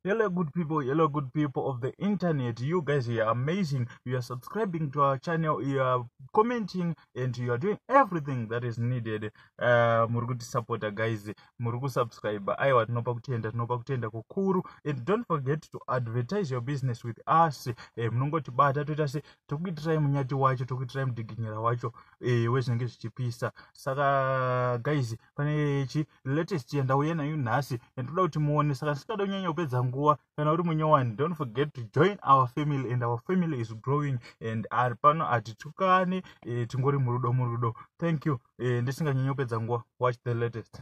Hello, good people. Hello, good people of the internet. You guys are amazing. You are subscribing to our channel. You are commenting and you are doing everything that is needed. Uh, muri kuti supporter guys. Muri ku subscribe. Aiwa tinopa kutenda, tinopa kutenda kukuru. And don't forget to advertise your business with us. Eh, munongoti bata toita se tokuitirai munyati wacho, tokuitirai mudiginyira wacho. Eh, wezvinenge zvichipisa. Saka guys, pane chi latest yandauya nayo nhasi yandinoda kuti muone saka ndisingada kunyanya kupedza nguva kana uri munyowani don't forget to join our family and our family is growing and ari pano hatitukane e, tingori murudo murudo thank you e, ndisinganyanya kupedza nguva watch the latest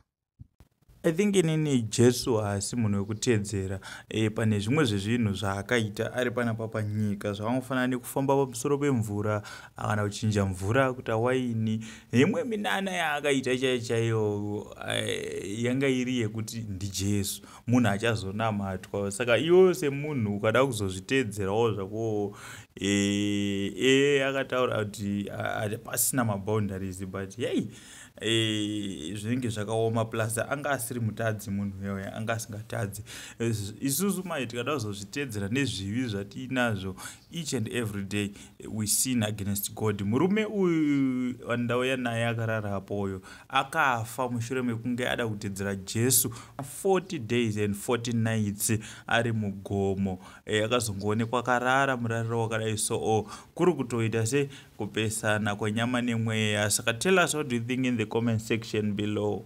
i think inini jesu haasi munhu wekuteedzera e, pane zvimwe zvezvinhu zvaakaita ari panapa panyika zvavangofanira nekufamba pamusoro pemvura akana kuchinja mvura kuta waini neimwe minana yaakaita chaiyo chaiyo eh, yanga iri yekuti ndijesu munhu achazonamatwa saka iwoyo semunhu ukada kuzozviteedzerawo zvakowo e, e, akataura kuti pasina maboundaries but yei e, zvinenge zvakaoma plus anga asiri mutadzi munhu yoyo anga asingatadzi isusu mai tikada kuzozviteedzera nezvivi zvatiinazvo each and every day we sin against god murume uyu wandauya naye akarara apo uyo akafa mushure mekunge ada kutedzera jesu 40 days and 40 nights ari mugomo eh, akazongoonekwa e, akarara murariro wakadai so o oh, kuri kutoita se kupesana kwenyama nemweya saka tell us what do you think in the comment section below